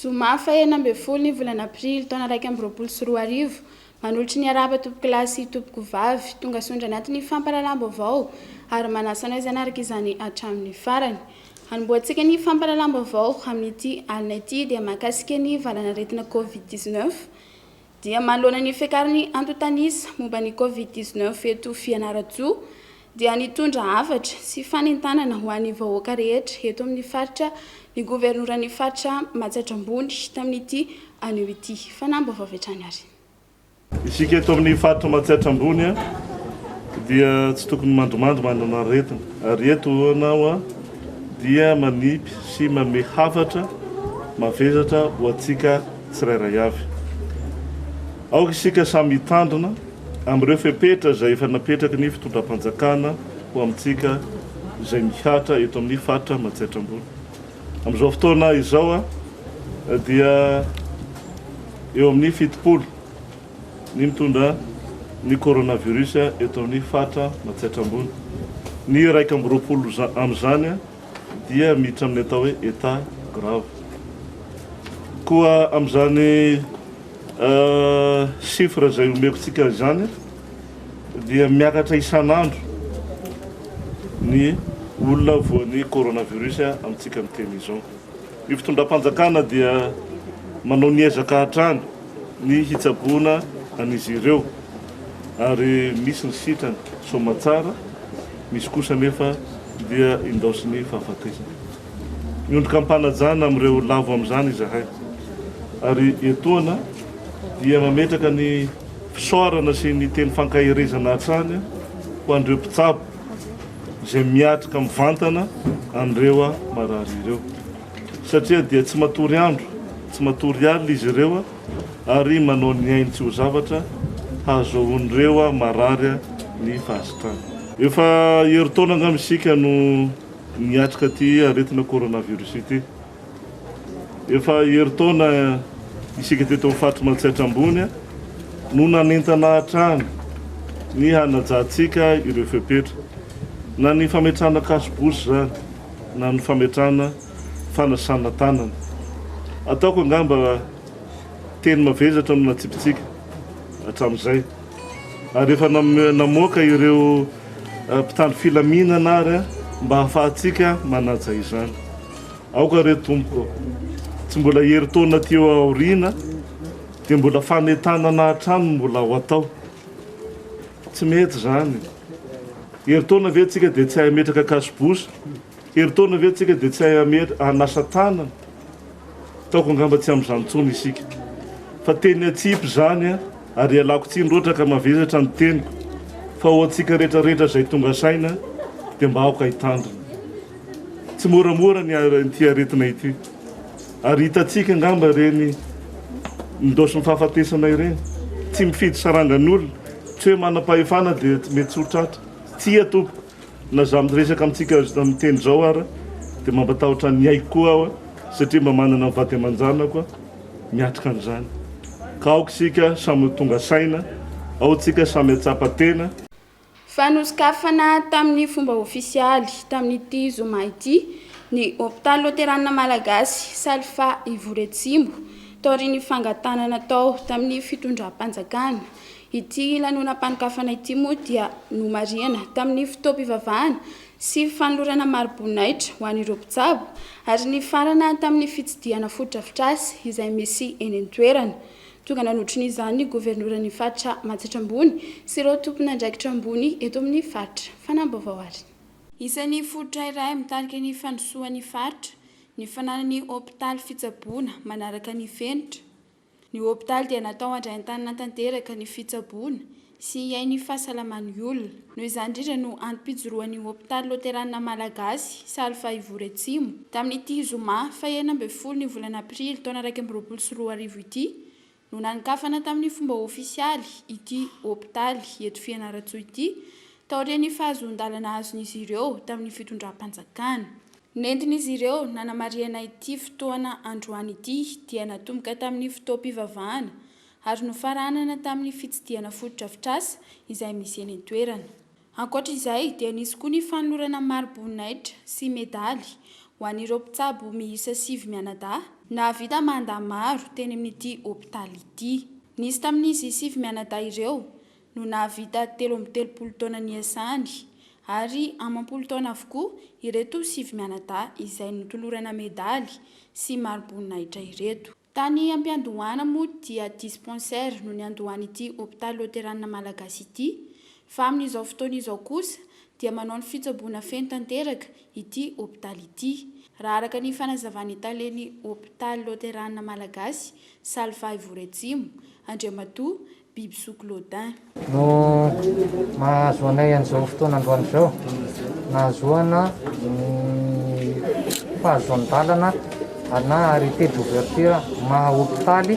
Zoma faha enina ambin'ny folo ny volana aprily taona iraika amby roapolo sy roa arivo. Manolotra ny harahaba tompokolahy sy tompokovavy tonga sondry anaty ny fampahalalam-baovao ary manasa anao izany araka izany hatramin'ny farany. Hanombohantsika ny fampahalalam-baovao amin'ity alina ity dia mahakasika ny valanaretina covid dix neuf. dia manoloana ny fiakaran'ny antontanisa momba ny Covid dix neuf eto Fianarantsoa dia nitondra hafatra sy fanentanana ho an'ny vahoaka rehetra eto amin'ny faritra ny governoran'ny faritra Matsatra Ambony tamin'ity anio ity. Fanambaovao avy hatrany ary. Isika eto amin'ny faritra Matsiatra Ambony dia tsy tokony mandrimandry manana aretina ary eto ianao dia manipy sy manome hafatra mavesatra ho antsika tsirairay avy. Aoka isika samy hitandrina amin'ireo fepetra izay efa napetraky ny fitondram-panjakana ho amintsika izay mihatra eto amin'ny faritra Matsiatra Ambony. Amin'izao fotoana izao dia eo amin'ny fitopolo ny mitondra ny coronavirus eto amin'ny faritra Matsiatra Ambony. Ny iraika amby roapolo amin'izany dia miditra amin'ny atao hoe état grave. Koa amin'izany chiffre izay omeko antsika izany dia miakatra isan'andro ny olona voan'ny coronavirus amintsika miteny izao. Ny fitondram-panjakana dia manao ny ezaka hatrany. ny hitsaboana an'izy ireo ary misy ny sitrany soamatsara, misy kosa anefa dia indaosin'ny fahafatesana. Miondrika am-panajana amin'ireo lavo amin'izany izahay ary etoana dia mametraka ny fisaorana sy ny teny fankaherezana hatrany ho an'ireo mpitsabo izay miatrika mivantana an'ireo marary ireo. Satria dia tsy matory andro, tsy matory alina izy ireo ary manao ny ainy tsy ho zavatra hahazoan'ireo marary ny fahasitrana. Efa herintaona angamba isika no niatrika ity aretina coronavirus ity. Efa herintaona isika teto amin'ny faritry Mantsiatra Ambony no nanentana hatrany ny hanajantsika ireo fepetra, na ny fametrahana cache bouche izany. na ny fametrahana fanasana tanana. Ataoko angamba teny mavesatra no natsipitsika hatramin'izay. Ary efa namoaka ireo mpitandro filaminana ary mba hahafahantsika manaja izany. Aoka re Tompoko, tsy mbola herintaona aty aoriana dia mbola fanentanana hatrany no mbola ho atao. Tsy mety izany. Herintaona ve tsika dia tsy hahay hametraka kasobosa? Herintaona ve tsika dia tsy hahay hametra hanasa tanana? Taoko angamba tsy amin'izany intsony isika. Fa teny atsipy izany an! Ary ialako tsiny loatra ka mavesatra ny teniko, fa ho antsika rehetra rehetra izay tonga saina dia mba aoka hitandrina tsimoramora ny ity aretina ity. Ary hitantsika angamba ireny ndaosy mifahafatesana ireny, tsy mifidy sarangan'olona, tsy hoe manam-pahefana dia mety tsy ho tratra. Tsia tompoko, na za miresaka amintsika amin'ny teny izao ara dia mba matahotra ny aiko koa aho satria mba manana ny vady aman-janako aho miatrika an'izany. Ka aoka isika samy ho tonga saina, ao tsika samy hatsapa tena, Fa nosokafana tamin'ny fomba ofisialy, tamin'ity zoma ity, ny Hopitaly Loterana Malagasy Salfa Ivory-Atsimo, taorian'ny fangatahana natao tamin'ny fitondram-panjakana. Ity lanonam-panokafana ity moa dia nomarihana tamin'ny fotoam-pivavahana sy fanolorana mari-boninahitra ho an'ireo mpitsabo ary nifarana tamin'ny fitsidihana fotodrafitrasa izay misy eny an-toerana. Tonga nanotrona izany ny governoran'ny faritra Matsatra Ambony sy ireo tompon'andraikitra ambony eto amin'ny faritra. Fanambaovao arina. Isan'ny fototra iray mitarika ny fandrosoan'ny faritra ny fananany hopitaly fitsaboana manaraka ny fenitra. Ny hopitaly dia natao handraian-tanana tanteraka ny fitsaboana. sy hihaino fahasalaman'ny olona. Noho izany indrindra no antom-pijoroan'ny hopitaly loterana malagasy Saly Fahivory Atsimo, tamin'ity zoma fahenina ambin'ny folo ny volana aprily taona iraika amby roapolo sy roa arivo ity, no nanokafana tamin'ny fomba ofisialy ity hopitaly eto Fianarantsoa ity, taorian'ny fahazoan-dalana azon'izy ireo tamin'ny fitondram-panjakana. Nentin'izy ireo nanamarihana ity fotoana androany ity dia natomboka tamin'ny fotoam-pivavahana ary nofaranana tamin'ny fitsidihana fotodrafitrasa izay misy eny an-toerana. Ankoatra izay dia nisy koa ny fanolorana mari-boninahitra sy medaly ho an'ireo mpitsabo miisa sivy mianadahy nahavita manda maro teny amin'ity hopitaly ity. Nisy tamin'izy sivy mianadahy ireo no nahavita telo amby telopolo taona niasany ary amam-polo taona avokoa ireto sivy mianadahy izay notolorana medaly sy mari-boninahitra ireto. Tany Ampiandohana moa dia dispensaire no niandohan'ity hopitaly loteranina malagasy ity, fa amin'izao fotoana izao kosa dia manao ny fitsaboana feno tanteraka ity hopitaly ity. Raha araka ny fanazavan'ny talen'ny hopitaly loteranina malagasy Salvay Voreatsimo, Andriamatoa Biby zoky Lodin. No mahazo anay an'izao fotoana androany izao. Nahazoana ny fahazoan-dalana na arrêté d'ouverture maha hopitaly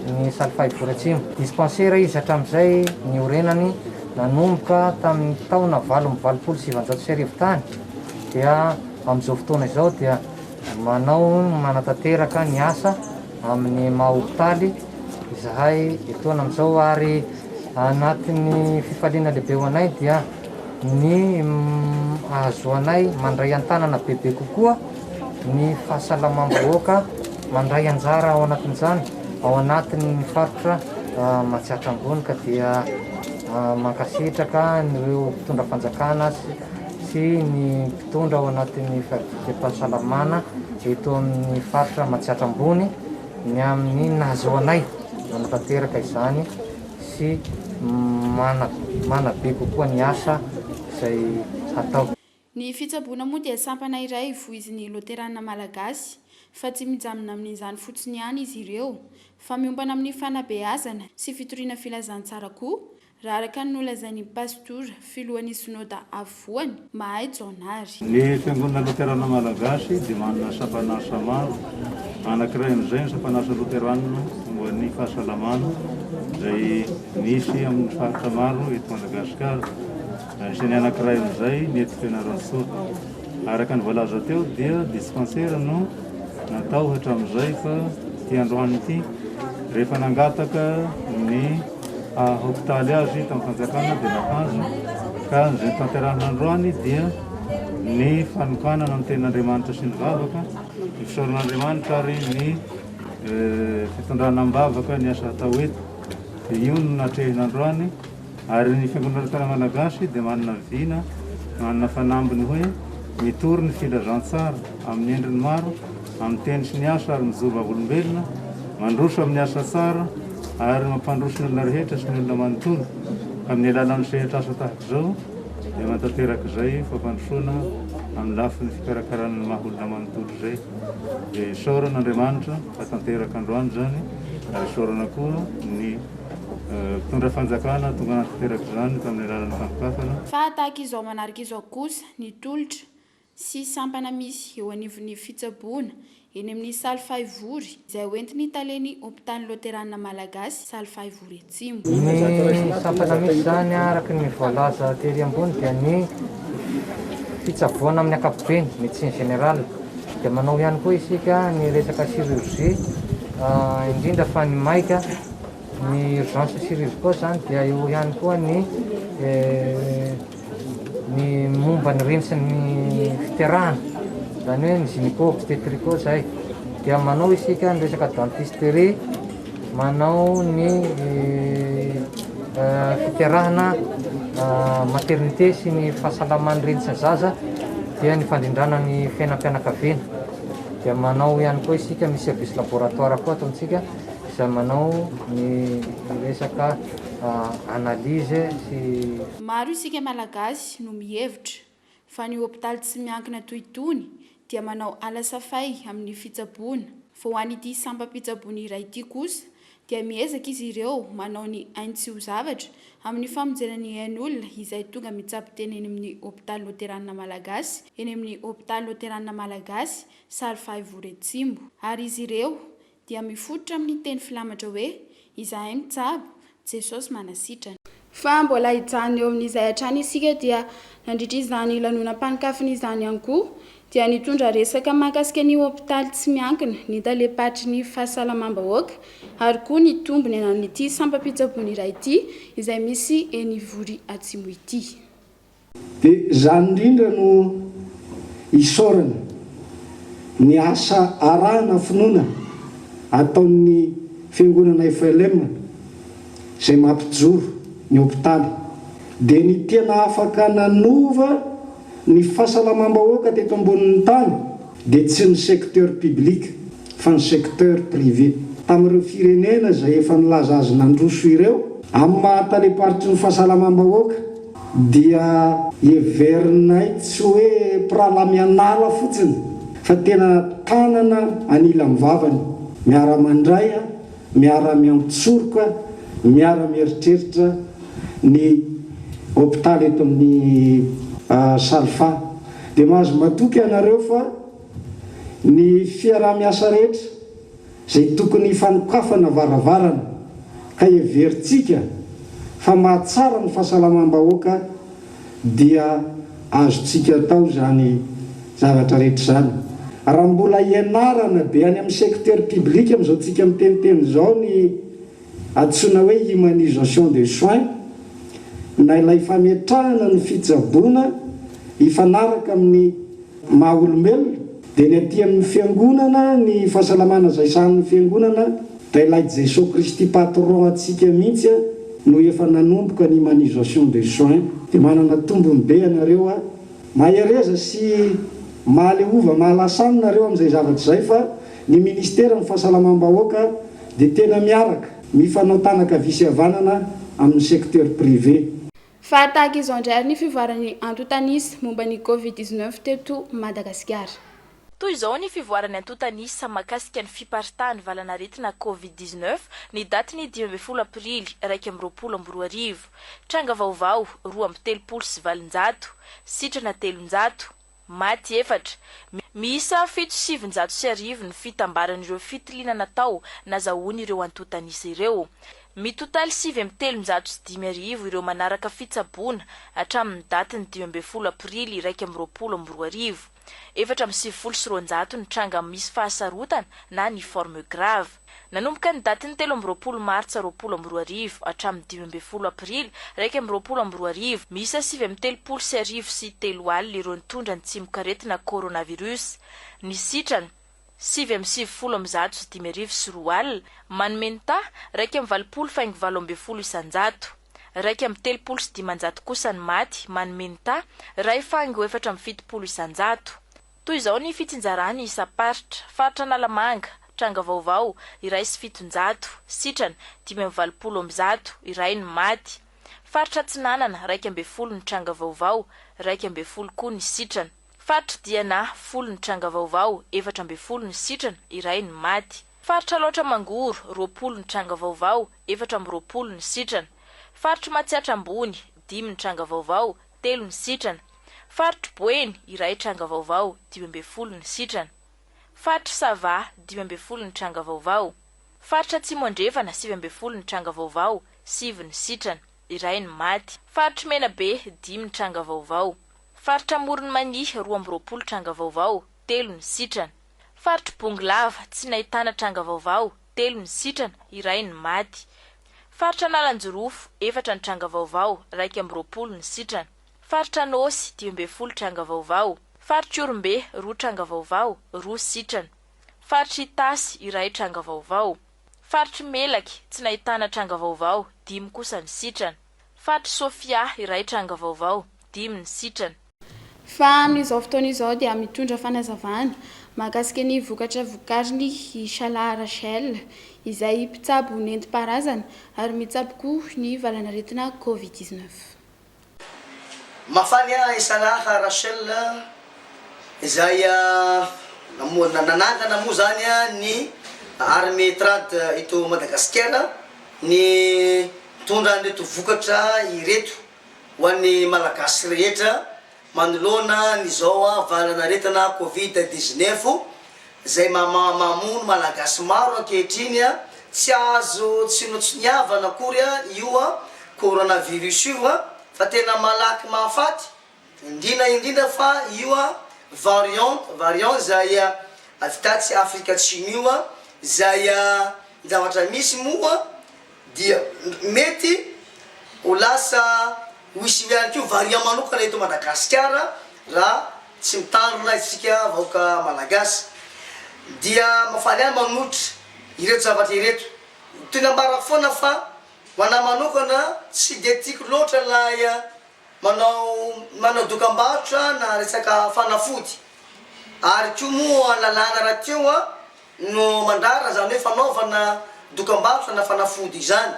ny Saly Fahibory Atsimo. Dispensaire izy hatramin'izay niorenany nanomboka tamin'ny taona valo amby valopolo sy sivinjato sy arivo tany dia amin'izao fotoana izao dia Manao ny manatanteraka ny asa amin'ny maha hopitaly izahay etoana amin'izao ary anatin'ny fifaliana lehibe ho anay dia ny ahazoanay mandray an-tanana bebe kokoa ny fahasalamam-bahoaka mandray anjara ao anatin'izany ao anatin'ny faritra Matsiatra Ambony ka dia mankasitraka an'ireo mpitondra fanjakana sy ny Mitondra ao anatin'ny fadikam-pahasalamana eto amin'ny faritra Matsiatra Ambony ny amin'ny nahazoanay nanatanteraka izany sy manabe kokoa ny asa izay hatao. Ny fitsaboana moa dia sampana iray voizin'ny Loterana Malagasy fa tsy mijanona amin'izany fotsiny ihany izy ireo fa miompana amin'ny fanabeazana sy fitoriana filazantsara koa Raha araka ny nolazain'ny Pasitora, Filohan'ny Synoda Afovoany, Mahay Jaonary. Ny Fiangonana Loterana Malagasy dia manana sampan'asa maro. Anankiray amin'izay ny sampan'asa loterana momba ny fahasalamana izay misy amin'ny faritra maro eto Madagasikara. Anisan'ny anankiray amin'izay ny eto Fianarantsoa. Araka ny voalaza teo dia dispansera no natao hatramin'izay fa ity androany ity rehefa nangataka ny Hopitaly azy tao am-panjakana dia nahazo, ka izay notanterahina androany dia ny fanokanana ny tenin'Andriamanitra sy ny vavaka, ny fisaoran'Andriamanitra ary ny fitondrana am-bavaka ny asa hatao eto. Dia io no natrehina androany ary ny Fiangonana Lotera Malagasy dia manana vina, manana fanambiny hoe mitory ny filazantsara amin'ny endriny maro, amin'ny teny sy ny asa ary mijoro vavolombelona, mandroso amin'ny asa tsara ary mampandroso ny olona rehetra sy ny olona manontolo. Amin'ny alalan'ny sehatra asa tahaka izao dia manatanteraka izay fampandrosoana amin'ny lafiny fikarakarana ny maha olona manontolo izay. Dia isaorana Andriamanitra fa tanteraka androany izany ary isaorana koa ny mpitondra fanjakana tonga nanatanteraka izany tamin'ny alalan'ny fampikafana. Fa tahaka izao manaraka izao kosa ny tolotra. sy sampana misy eo anivon'ny fitsaboana eny amin'ny Saly Fahivory izay hoentin'ny Talen'ny Hopitaly Loterana Malagasy Saly Fahivory Atsimo. Ny sampana misy izany araka ny voalaza tery ambony dia ny fitsaboana amin'ny ankapobeny, médecine générale, dia manao ihany koa isika ny resaka chirurgie, indrindra fa ny maika, ny urgence chirurgicaux izany dia eo ihany koa ny. Ny momba ny rintsin'ny fiterahana, izany hoe ny gynéco obstétrico izay, dia manao isika ny resaka dentisterie, manao ny fiterahana maternité sy ny fahasalaman'ny reny sy ny zaza, dia ny fandrindrana ny fiainam-pianakaviana. Dia manao ihany koa isika, misy service laboratoire koa ato amintsika izay manao ny resaka analyse sy. Maro isika Malagasy no mihevitra fa ny hopitaly tsy miankina toy itony dia manao alasafay amin'ny fitsaboana, vao ho an'ity sampam-pitsaboana iray ity kosa dia miezaka izy ireo manao ny ainy tsy ho zavatra amin'ny famonjena ny ain'olona izay tonga mitsabo tena eny amin'ny hopitaly loteranina Malagasy eny amin'ny hopitaly loteranina Malagasy Sary Fahaivory Atsimo ary izy ireo dia mifototra amin'ny teny filamatra hoe, Izahay mitsabo, Jesosy manasitrana. Fa mbola hijanona eo amin'izay hatrany isika dia nandritra izany lanonam-panokafana izany ihany koa dia nitondra resaka mahakasika ny hopitaly tsy miankina, ny talem-paritry ny fahasalamam-bahoaka ary koa ny tombony ananan'ity sampam-pitsaboana iray ity izay misy eny Ivory Atsimo ity. Dia izany indrindra no isaorana ny asa arahana finoana ataon'ny Fiangonana FLM izay mampijoro ny hopitaly. Dia ny tena afaka nanova ny fahasalamam-bahoaka teto ambonin'ny tany dia tsy ny secteur public fa ny secteur privé. Tamin'ireo firenena izay efa nilaza azy nandroso ireo, amin'ny maha talem-paritry ny fahasalamam-bahoaka dia heverinay tsy hoe mpirahalahy mianala fotsiny fa tena tanana anilan'ny vavany, miara-mandray, miara-miantsoroka, miara-mieritreritra ny hopitaly eto amin'ny Salfa. Dia mahazo matoky ianareo fa Ny fiaraha-miasa rehetra izay tokony hifanokafana varavarana ka heverintsika fa mahatsara ny fahasalamam-bahoaka dia azontsika atao izany zavatra rehetra izany raha mbola ianarana be any amin'ny secteur public amin'izao tsika miteniteny izao ny Antsoina hoe humanisation des soins na ilay fametrahana ny fitsaboana hifanaraka amin'ny maha olombelona, dia ny aty amin'ny fiangonana ny fahasalamana izay sahanin'ny fiangonana dia ilay Jesoa Kristy Patron antsika mihitsy no efa nanomboka ny humanisation des soins. Dia manana tombony be ianareo a! Mahereza sy mahaleova mahalasa aminy nareo amin'izay zavatra izay fa Ny Ministeran'ny Fahasalamam-bahoaka dia tena miaraka, mifanao tanaka havia sy havanana amin'ny secteur privé. Fa tahaka izao indray ary ny fivoaran'ny antontan'isa momba ny Covid dix neuf teto Madagasikara. Toy izao ny fivoaran'ny antontan'isa mahakasika ny fiparitahan'ny valan'aretina Covid dix neuf ny daty ny dimy ambin'ny folo aprily iraika amby roapolo amby roa arivo. Tranga vaovao, roa amby telopolo sy valonjato. Sitrana telonjato. Maty efatra. Miisa fito sy sivinjato sy arivo ny fitambaran'ireo fitiliana natao nazahoan'ireo antotanisa ireo. Mitotaly sivy amby telonjato sy dimy arivo ireo manaraka fitsaboana hatramin'ny datin'ny dimy ambin'ny folo aprily iraika amby roapolo amby roa arivo. Efatra amby sivifolo sy roanjato ny tranga misy fahasarotana na ny forme graves. Nanomboka ny datin'ny telo amby roapolo martsa roapolo amby roa arivo hatramin'ny dimy ambin'ny folo aprily iraika amby roapolo amby roa arivo, miisa sivy amby telopolo sy arivo sy telo alina ireo nitondra ny tsimokaretina coronavirus. Ny sitrana, sivy amby sivifolo amby zato sy dimy arivo sy roa alina, manome ny taha, iraika amby valopolo faingo valo ambin'ny folo isan-jato. Iraika amby telopolo sy dimanjato kosa ny maty, manome ny taha, iray faingo efatra amby fitopolo isan-jato. Toy izao ny fitsinjarany isam-paritra, Faritra Analamanga, tranga vaovao, iray sy fitonjato, sitrana, dimy amby valopolo amby zato, iray no maty. Faritra Atsinanana, iraika ambin'ny folo ny tranga vaovao, iraika ambin'ny folo koa ny sitrana. Faritra Diana, folo ny tranga vaovao, efatra ambin'ny folo ny sitrana, iray no maty. Faritra Alaotra Mangoro, roapolo ny tranga vaovao, efatra amby roapolo ny sitrana. Faritr'i Matsiatra Ambony, dimy ny tranga vaovao, telo ny sitrana. Faritry Boeny, iray tranga vaovao, dimy ambin'ny folo ny sitrana. Faritry Sava, dimy ambin'ny folo ny tranga vaovao. Faritra Atsimo Andrefana, sivy ambin'ny folo ny tranga vaovao, sivy ny sitrana. Iray ny maty. Faritry Menabe, dimy ny tranga vaovao. Faritra Amoron'i Mania, roa amby roapolo tranga vaovao, telo ny sitrana. Faritry Bongolava, tsy nahitana tranga vaovao, telo ny sitrana, iray ny maty. Faritra Analanjirofo, efatra ny tranga vaovao, iraika amby roapolo ny sitrana. Faritra Anôsy, dimy ambin'ny folo tranga vaovao. Faritr'Ihorombe, roa tranga vaovao, roa sitrana. Faritr'Itasy, iray tranga vaovao. Faritr'i Melaky, tsy nahitana tranga vaovao, dimy kosa ny sitrana. Faty Sofia, iray tranga vaovao, dimy ny sitrana. Fa amin'izao fotoana izao dia mitondra fanazavana mahakasika ny vokatra vokariny i Shalah Rachel, izay mpitsabo nentim-paharazana ary mitsabo koa ny valanaretina Covid dix neuf. Mahafaly ahy i Shalah Rachel, izay nanangana moa izany ny Armée Trad eto Madagasikara, ny. Mitondra an'ireto vokatra ireto ho an'ny Malagasy rehetra manoloana an'izao valan'aretina Covid dix-neuf izay mamono Malagasy maro ankehitriny, tsy azo tsinotsiniavana akory io Coronavirus io fa tena malaky mahafaty Indrina indrindra fa io a variant variant zay a avy tatsy Afrika Atsimo io a zay a zavatra misy moa dia mety ho lasa hoisy io ihany koa variant manokana eto Madagasikara raha tsy mitandrina isika vahoaka Malagasy. Dia mahafaly ahy manohitra ireto zavatra ireto. Toy ny ambarako foana fa ho anahy manokana tsy dia tiako loatra ilay Manao manao dokambarotra na resaka fanafody ary koa moa lalàna rahateo no mandrara izany hoe fanaovana dokambarotra na fanafody izany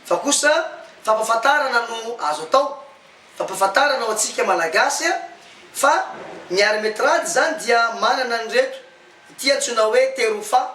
fa kosa fampafantarana no azo atao, fampafantarana ho antsika Malagasy fa ny armetrage izany dia manana an'ireto ity antsoina hoe terofa.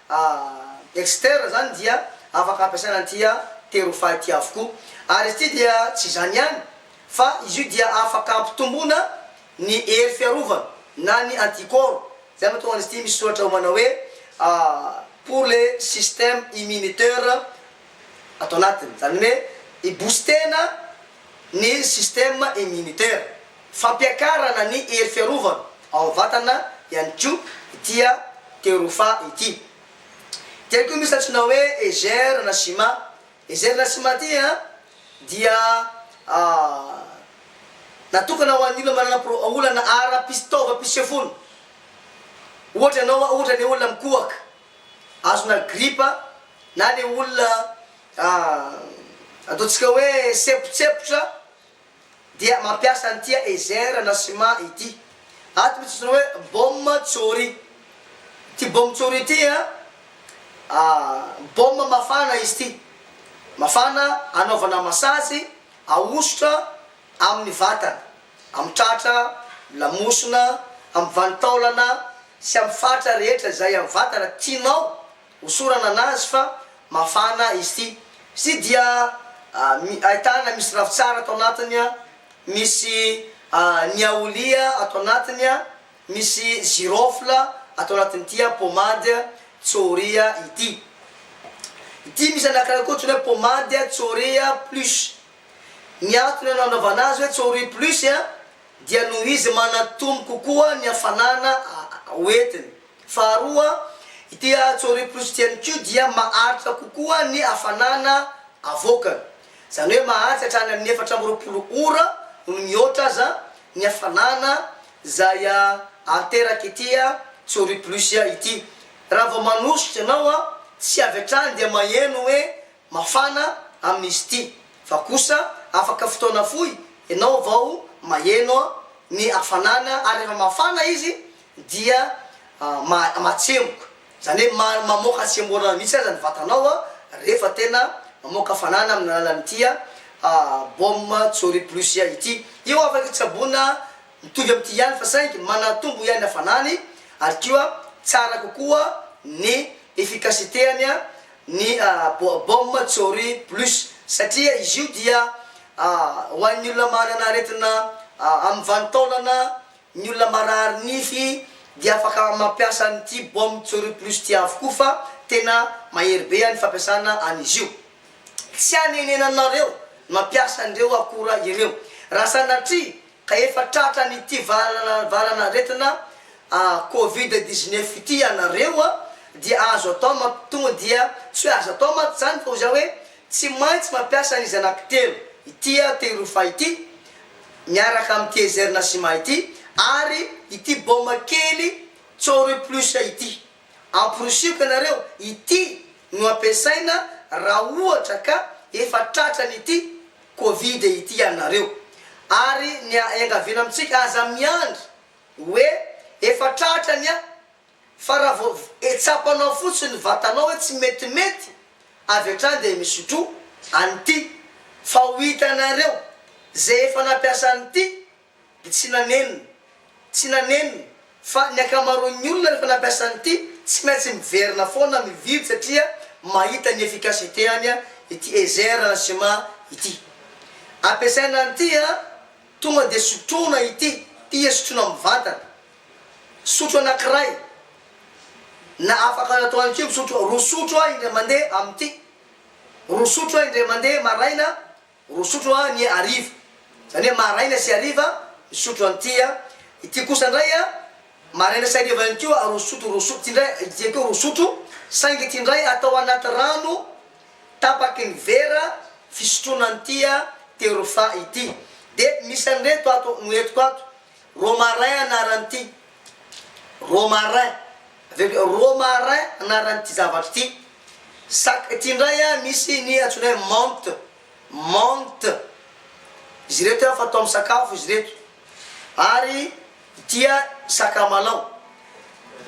A Dexter izany dia afaka ampiasaina an'ity a terofaha ity avokoa. Ary izy ity dia tsy izany ihany fa izy io dia afaka ampitomboana ny hery fiarovana na ny anticorps. Izay no mahatonga an'izy ity misy soratra ao manao hoe a pour le système immunitaire ato anatiny. Izany hoe hi-booster-na ny système immunitaire. Fampiakarana ny hery fiarovana ao am-vatana ihany koa ity Terofa ity. Ity ihany koa misy antsoina hoe Ezer Nashima. Ezer Nashima ity dia natokana ho an'ny olona manana pro- olana ara-pis- taovam-pisefoana. Ohatra ianao, ohatra le olona mikohaka, azona gripa, na le olona ataontsika hoe sempotsempotra. dia mampiasa ny tia Ezer na Sima ity. Ato misy antsoina hoe Bom Tsori. Ity Bom Tsori ity an, bom mafana izy ity. Mafana anaovana masazy, ahosotra amin'ny vatana, amin'ny tratra, amin'ny lamosina, amin'ny vanin-taolana sy amin'ny faritra rehetra izay amin'ny vatana tianao Hosorana anazy fa mafana izy ity. Izy ity dia ahitana misy ravintsara ato anatiny, misy ny aolia ato anatiny, misy girofle ato anatin'ity pommade Tsoria ity. Ity misy anankiray koa antsoina hoe pommade Tsoria plus. Ny antony nanaovana azy hoe Tsoria plus dia noho izy manatombo kokoa ny hafanana hoentiny. Faharoa, ity Atsori Plus ity ihany koa dia maharitra kokoa ny hafanana avoakany. Izany hoe maharitra hatrany amin'ny efatra amby roapolo ora noho ny mihoatra aza ny hafanana izay aterak'ity Atsori Plus ity. Raha vao manosika ianao, tsy avy hatrany dia maheno hoe mafana amin'izy ity, fa kosa afaka fotoana fohy ianao vao maheno ny hafanana ary rehefa mafana izy dia mahatsemboka, izany hoe mamoaka tsemborana mihitsy aza ny vatanao rehefa tena mamoaka fanana amin'ny alalan'ity baume Tsory Plus ity. Io afaka tsaboina mitovy amin'ity ihany fa saingy manatombo ihany ny hafanany ary koa tsara kokoa ny efficacité-ny ny baume Tsory Plus satria izy io dia ho an'ny olona manana aretina amin'ny vanin-taolana. Ny olona marary nify dia afaka mampiasa an'ity baume Tsory Plus ity avokoa fa tena mahery be ny fampiasana an'izy io. Tsy anenenanareo ny mampiasa an'ireo akora ireo raha sanatria ka efa tratran'ity valan'aretina covid dix-neuf ity ianareo dia azo atao mampitombo dia tsy hoe aza atao mantsy izany fa hoy za hoe tsy maintsy mampiasa an'izy anankitelo ity tehiroa faha ity miaraka amin'ity Ezer Nasima ity ary ity baoma kely Tsory Plus ity. Amporisioko ianareo, ity no ampiasaina raha ohatra ka efa tratran'ity Covid ity ianareo. Ary ny iangaviana amintsika, aza miandry hoe efa tratrany an! Fa raha vao etsapanao fotsiny ny vatanao hoe tsy metimety, avy hatrany dia misotro an'ity, fa ho hitanareo izay efa nampiasa an'ity dia tsy nanenina, tsy nanenina, fa ny ankamaroan'ny olona rehefa nampiasa an'ity tsy maintsy miverina foana mividy satria mahita ny efficacité-any ity Ezer Enzima ity. Ampiasaina an'ity an, tonga dia sotroina ity, tia sotroina mivantana. Sotro anankiray, na afaka natao ihany koa misotro roa sotro aho indray mandeha amin'ity, roa sotro aho indray mandeha maraina, roa sotro aho ny hariva, izany hoe maraina sy hariva misotro an'ity aho, ity kosa indray an, maraina sy hariva ihany koa roa sotro, roa sotro, ity indray ity ihany koa roa sotro, saingy ity indray atao anaty rano tapaky ny vera fisotroana an'ity terofa ity. Dia misy an'ireto ato no entiko ato. Romarin anaran'ity Romarin avy eo koa Romarin anaran'ity zavatra ity Sac ity indray a misy ny antsoina hoe menthe menthe izy ireto a fatao amin'ny sakafo izy ireto ary ity a sakamalao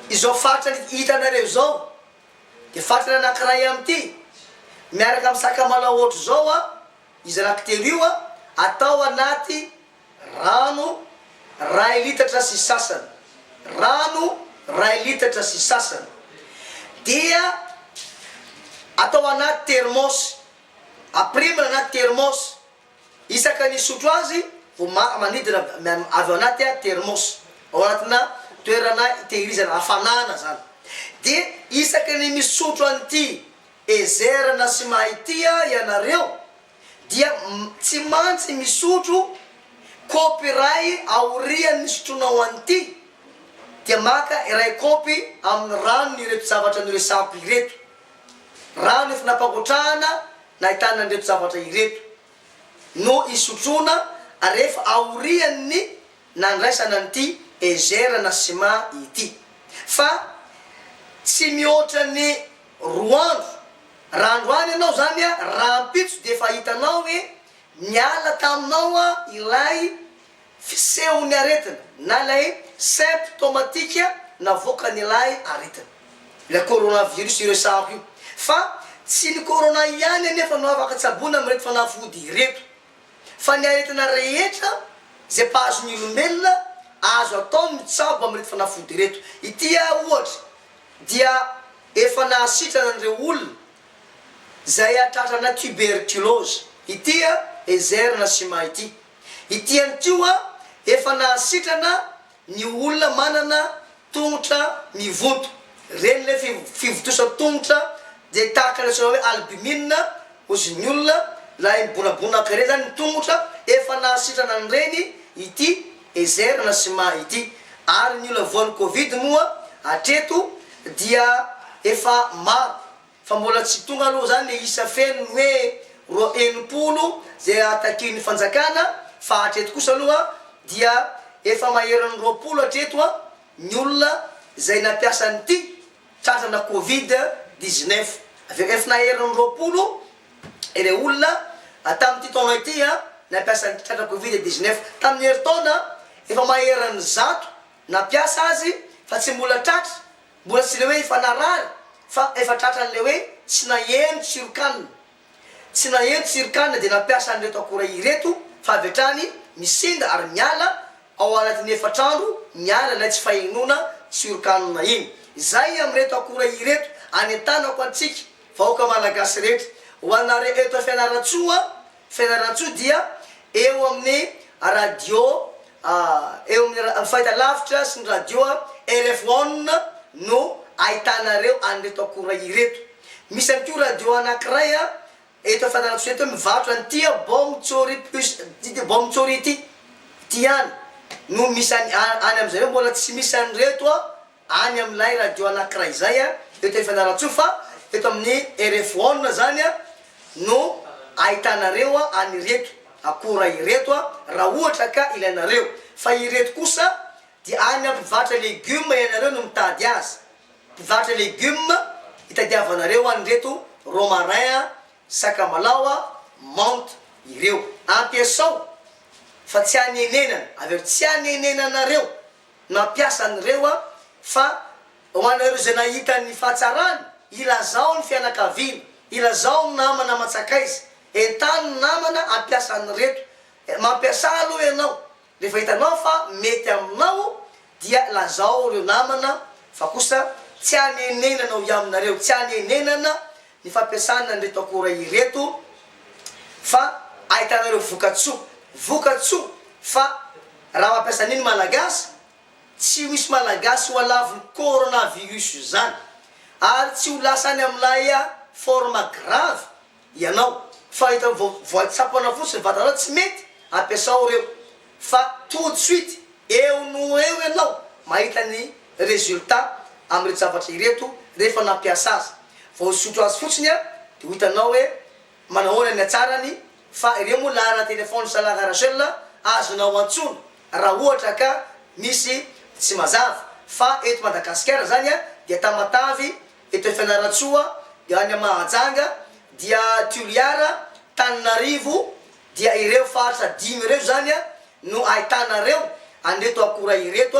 izao fatrany hitanareo izao dia fatrany anankiray amin'ity miaraka amin'ny sakamalao ohatr'izao a izy anankitelo io a atao anaty Rano, ray litatra sy sasany. Rano, ray litatra sy sasany, dia atao anaty termôsy, apirimina anaty termôsy, isaka ny hisotro azy vao ma manidina avy ao anaty termôsy, ao anatina toerana itehirizana hafanana zany, dia isaka ny misotro an'ity, ezerana sy mahay tia ianareo dia tsy mantsy misotro kopy iray aorian'ny sotroinao an'ity dia maka iray kopy amin'ny ranony ireto zavatra noresahako ireto, rano efa nampangotrahana nahitana an'ireto zavatra ireto, no isotroana rehefa aorian'ny nandraisana an'ity Ezer na Sima ity. Fa tsy mihoatra ny Roa andro. Raha androany ianao izany a, rahampitso dia efa hitanao hoe niala taminao a ilay fisehon'ny aretina na ilay symptomatika navoakan'ilay aretina. Ilay coronavirus iresahako io. Fa tsy ny corona ihany anefa no afaka tsaboina amin'ireto fanafody ireto. Fa ny aretina rehetra izay mpahazo ny olombelona, azo atao ny mitsabo amin'ireto fanafody ireto. Ity a ohatra, dia efa nahasitrana an'ireo olona izay hatratrana tuberculose. Ity an, Ezerina sy Maha ity. Ity ihany koa efa nahasitrana ny olona manana tongotra mivoto. Ireny ilay fivotosa tongotra dia tahaka ilay atsoina hoe albumine ozin'ny olona, ilay mibonabonaka ireny izany ny tongotra, efa nahasitrana an'ireny ity Ezerina sy Maha ity. Ary ny olona voan'ny covid moa hatreto dia efa maro fa mbola tsy tonga aloha zany le isa feno ny hoe roa enimpolo zay takian'ny fanjakana fa hatreto kosa aloha dia efa maheran'ny roapolo hatreto ny olona zay nampiasa an'ity Tratrana Covid dix neuf, VF Naherin'ny roapolo ireo olona tamin'ity taona ity nampiasa ny tratra Covid dix neuf. Tamin'ny herintaona, efa maherin'ny zato nampiasa azy fa tsy mbola tratra, mbola tsy ilay hoe efa narary fa efa tratran'ilay hoe tsy naheno tsiron-kanina. Tsy naheno Tsirik'anona dia nampiasa an'ireto akora ireto fa avy hatrany misinda ary miala ao anatin'ny efatra andro miala ilay tsy fahenoana Tsiork'anona iny. Izay amin'ireto akora ireto anentanako antsika vahoaka Malagasy rehetra. Ho anareo eto Fianarantsoa, Fianarantsoa dia eo amin'ny radio eo amin'ny fahitalavitra sy ny radio rfon no ahitanareo an'ireto akora ireto. Misy ihany koa radio anankiray eto Fianarantsoa eto mivarotra an'ity Bom Tsory Plus ity Bom Tsory ity. Ity ihany no misy any any amin'izareo mbola tsy misy an'ireto any amin'ilay radio anankiray izay eto Fianarantsoa fa eto amin'ny RFON izany no ahitanareo an'ireto akora ireto raha ohatra ka ilainareo. Fa ireto kosa dia any amin'ny mpivarotra legioma ianareo no mitady azy. Mpivarotra légumes hitadiavanareo any ireto romarin, sakamalao, menthe ireo. Ampiasao fa tsy hanenenana avy eo, tsy hanenenanareo nampiasa an'ireo fa ho anareo izay nahita ny fahatsarany ilazao ny fianakaviana, ilazao ny namana aman-tsakaiza, entano ny namana hampiasa an'ireto. Mampiasa aloha ianao Rehefa hitanao fa mety aminao dia lazao ireo namana fa kosa tsy hanenenana ao iaminareo, tsy hanenenana ny fampiasana an'ireto akora ireto fa ahitanareo vokatsoa, vokatsoa fa raha mampiasa an'io ny Malagasy tsy ho hisy Malagasy ho alavon'ny coronavirus izany ary tsy ho lasa any amin'ilay forme grave ianao fa rehefa vao voatsapana fotsiny ny vatanao tsy mety ampiasao reo fa tout de suite eo no eo ianao mahita ny resultat amin'ireto zavatra ireto rehefa nampiasa azy vao hisotro azy fotsiny an de ho hitanao hoe manahoana ny hatsarany fa ireo moa laharana téléphone sa la rachel azonao antsoina raha ohatra ka misy tsy mazava fa eto madagasikara zany dia tamatavy Eto Fianarantsoa, eo any amin'ny Mahajanga, dia Toliara, Tananarivo, dia ireo faritra dimy ireo izany no ahitana ireo an'ireto akora ireto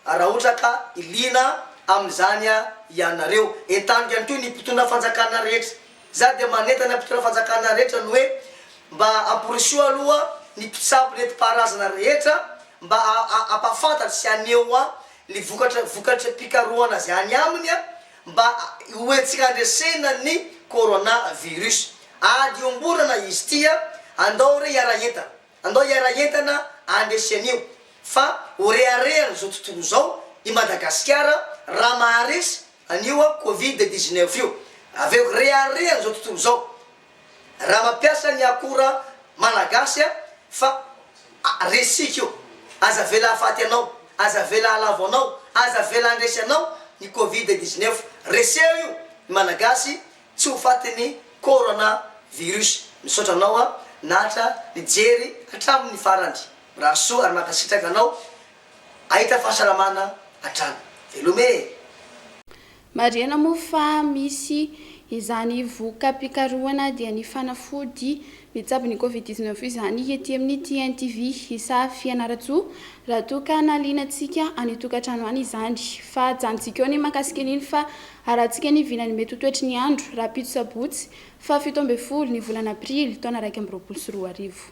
raha ohatra ka liana amin'izany ianareo. Entaniko ihany koa ny mpitondra fanjakana rehetra. Izaho dia manentana mpitondra fanjakana rehetra ny hoe mba ampirisiho aloha ny mpitsabo nentim-paharazana rehetra mba hampahafantatra sy haneho ny vokatra vokatry ny fikarohana azy any aminy mba ho entina handresena ny Corona virus. Ady iombonana izy ity a! Andao re hiara entana, andao hiara entana handresy an'io fa ho reharehan'izao tontolo izao i Madagasikara raha maharesy an'io Covid dix-neuf io. Avy eo reharehan'izao tontolo izao Raha mampiasa ny akora malagasy a fa resika io, aza avela hahafaty anao, aza avela hahalavo anao, aza avela handresy anao ny covid dix neuf, reseho io ny malagasy tsy ho fatin'ny corona virus. Misaotra anao a Natra nijery hatramin'ny farany. Mirary soa ary mankasitraka anao. Ahita fahasalamana hatrany. Veloma e! Marihana moa fa misy izany voka-pikarohana dia ny fanafody mitsabo ny Covid dix neuf izany ety amin'ny TNTV. Isaha Fianarantsoa, raha toa ka nalianantsika any tokantrano any izany. Fa ajanontsika eo ny mahakasika an'iny fa arahantsika ny vilany mety ho toetry ny andro, rahampitso sabotsy faha fito ambin'ny folo ny volana aprily taona iraika amby roapolo sy roa arivo.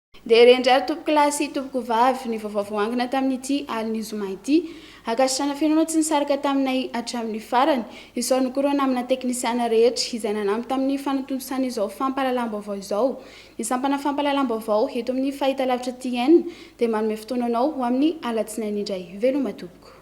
Ndeha re indray ry tompoko lahy sy tompoko vavy ny vaovao voangona tamin'ity alin'ny zoma ity. Ankasitrana feno ireo tsy nisaraka taminay hatramin'ny farany. Izao ny korona amina teknisiana rehetra izay nanampy tamin'ny fanontontosana izao fampahalalam-baovao izao. Ny sampana fampahalalam-baovao eto amin'ny fahitalavitra TN dia manome fotoana anao ho amin'ny alatsinainy indray. Veloma tompoko.